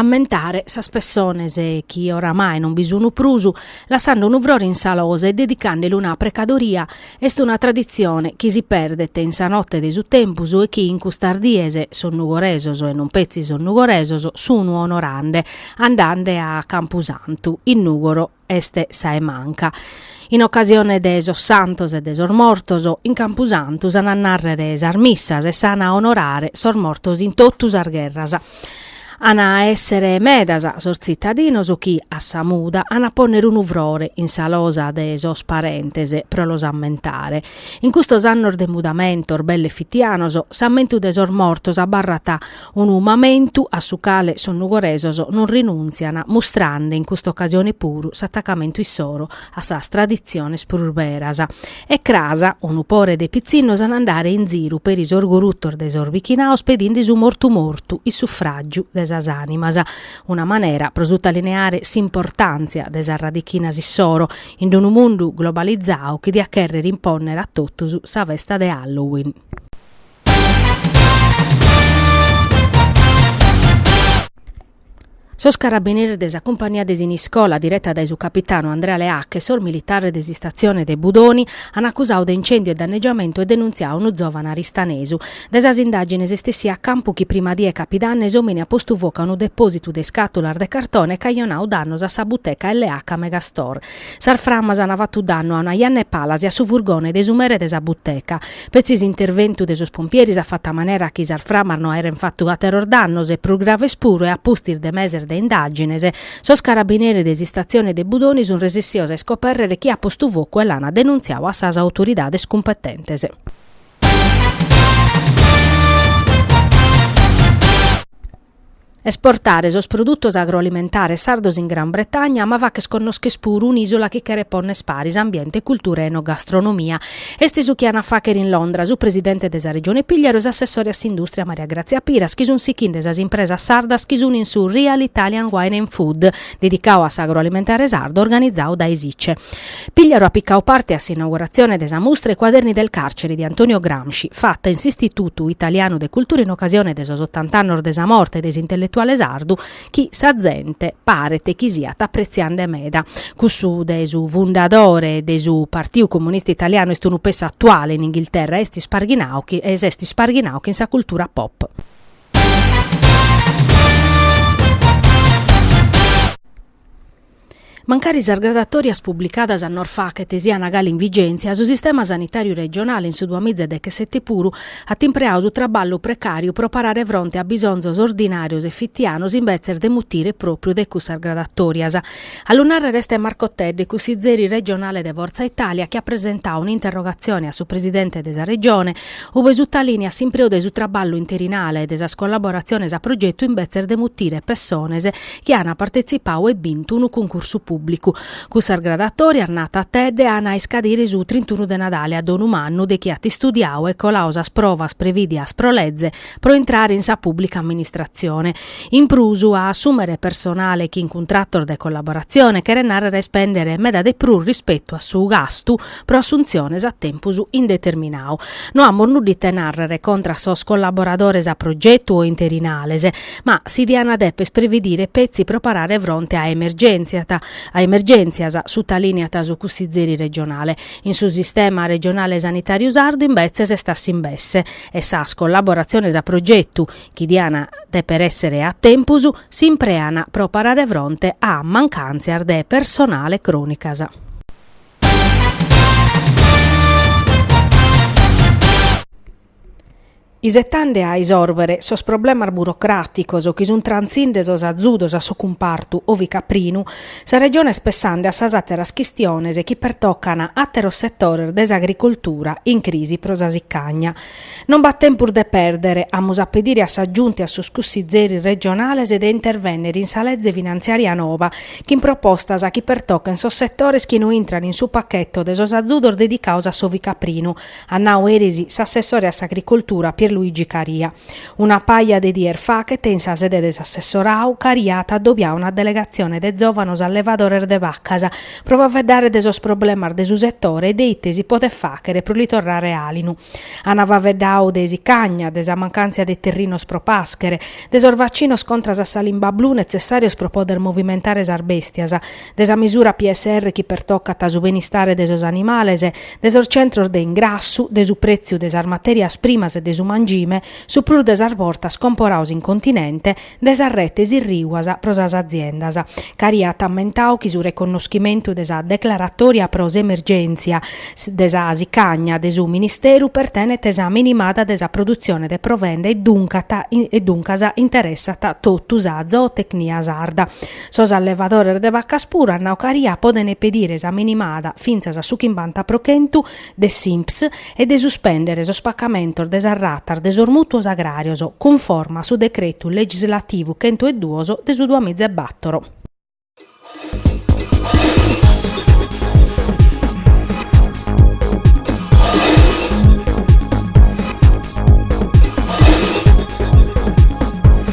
ammentare sas pessones chi oramai non bi sun prus, lassande unu frore in sa losa e dedicande·li una precadoria, est una traditzione chi si perdet in sa notte de su tempus e chi in custas dies sos nugoresos e non petzi sos nugoresos sun onorande andande a campusantu in Nugoro. est a 'e manca. In ocasione de sos santos e de sos mortos, in campusantu s'an a nàrrere sas missas e s'an a onorare sos mortos in totu sas gherras. An a èssere medas sos tzitadinos chi, a sa muda, an a pònnere unu frore in sa losa de sos parentes pro los ammentare. In custos annos de mudamentos belle fitianos, s'ammentu de sos mortos abarrat Unu mamentu a su cale sos nugoresos non rinuntzian mustrande in custa ocasione puru s'atacamentu issoro a sas traditziones prus beras. E cras, unu pore de pitzinnos an a andare in ziru peri sos gurutos de sos bichinaos pedinde su mortu mortu in suffràgiu de sas ànimas. Una manera pro sutalineare s'importàntzia de sas radichinas issoro in unu mundu globalizau chi diat chèrrere impònnere a totus sa festa de Halloween. Sos carabineris de sa cumpania de Siniscola, direta dae su capitanu Andrea Leac e sos militares de s'istatzione de Budoni, an acusadu de incèndiu e dannegiamentu e denuntziau unu zòvane aristanesu. Dae sas indàgines est essiu a campu chi sa prima die 'e capidanne s'òmine at postu focu a unu depòsitu de iscàtulas de cartone e at cajonadu dannos a sa buteca L.H. Megastore. Sas framas an fatu dannu a una janna 'e palas e a su furgone de su mere de sa buteca. Petzi s'interventu de sos pompieris at fatu a manera chi sas framas no aeren fatu àteros dannos e prus graves puru e a pustis de meses de indàgines, sos carabineris de s'Istatzione de Budoni sun resessios a iscopèrrere chie at postu focu e l'an denuntziau a sas autoridades cumpetentes. Esportare sos produtos agroalimentares sardos in Gran Bretagna, ma fàcher connòscher puru un'ìsula chi cheret pònner paris ambiente, cultura e enogastronomia. Est su chi an a fàcher in Londra su presidente de sa Regione Pìgliaru e s'assessore a s'indùstria Maria Grazia Piras chi sun sichinde sas impresas sardas chi sun in su Real Italian Wine and Food, dedicadu a s'agroalimentare sardu, organizadu dae s'ICE. Pigliaru at picau parte a s'inauguratzione de sa mustra I quaderni del carcere di Antonio Gramsci, fata in s'Istitutu Italianu de Cultura in ocasione de sos ottant'annos de sa morte de s'intelletuale sardu chi sa zente paret chi siat apretziande meda. Cussu de su fundadore de su Partiu Comunista Italianu est unu pessu atuale in Inghilterra e est isparghinau, chi, e s'est isparghinau chin sa cultura pop. Mancari sas gradatòrias publicadas annos faghet sian galu in vigèntzia, su sistema sanitàriu regionale in su duamiza e dechesete puru at impreadu su traballu precàriu pro parare fronte a bisonzos ordinàrios e fitianos imbetzes de mutire pròpiu dae cussas gradatòrias. A lu nàrrere est Marco Tedde, cussizeri regionale de Forza Italia, chi at presentadu un'interrogatzione a su presidente de sa Regione, ue sutalìniat s'impreu de su traballu interinale e de sas collaboratziones a progetu imbetzes de mutire pessones chi an partetzipau e bintu unu cuncursu pùbblicu. Cussas gradatòrias narat Tedde an a iscadire su trintunu de Nadale a dannu mannu de chi at istudiau e colau sas provas prevìdias pro leze pro intrare in sa pùbblica amministratzione. In prus, a assùmere personale chin cuntratos de collaboratzione, cheret nàrrere a ispèndere meda de prus rispetu a su gastu pro assuntziones a tempus indeterminau. No amus nudda ite nàrrere contra a sos collaboradores a progetu o interinales, Ma si dian deper previdire petzi pro parare fronte a emergèntziat, a emergèntzias, sutalìniat su cussizeri regionale. In su sistema regionale sanitàriu sardu imbetzes est a s'imbesse e sas collaboratziones a progetu, chi dian dèpere èssere a tempus, s'imprean pro parare fronte a mancàntzias de personale crònicas. isetande a isòrbere sos problemas burocràticos chi sunt trantzinde sos azudos a su cumpartu ovicaprinu, sa Regione est pessande a sas àteras chistiones chi pertocan àteros setores de s'agricoltura in crisi pro sa sicagna. Non b'at tempus de pèrdere, amus a pedire a sa Giunta e a sos cussizeris regionales de intervènnere in sa leze finantziària noba chin propostas chi pertochen sos setores chi no intrant in su pachetu de sos azudos dedicados a s'ovicaprinu, at nau eris s'assessore a s'Agricoltura Pierluigi Caria. Una paja de dies faghet in sa sede de s'assessorau, Caria at adobiau una delegatzione de zòvanos allevadores de vacas pro faveddare de sos problemas de su setore e de ite si podet fàghere pro li torrare àlinu. Ant faveddau de sicagna, de sa mancàntzia de terrinos pro pàschere, de sos vacinos contras a sa limba blu netzessàrios pro poder movimentare sas bèstias, de sa misura PSR chi pertocat su benistare de sos animales, de sos centros de ingrassu, de su prètziu de sas matèrias primas e de su mangime, su prus de sas bortas comporados in continente, de sas retes irriguas pro sas aziendas. Caria at ammentadu chi su reconnoschimentu de sa declaratòria pro s'emergèntzia de sa sicagna de su Ministeru pertenet sa minimada de sa produtzione de provenda e duncas interessat totu sa zootecnia sarda, Sos allevadores de vacas puru a Naucaria podent pedire sa minimada fintzas a su chimbanta pro chentu de s'INPS e de suspèndere sos pacamentos de sas ratas de sos mùtuos agràrios, cunforma a su decretu legislativu chentu e duos de su duamiza e bàtoro.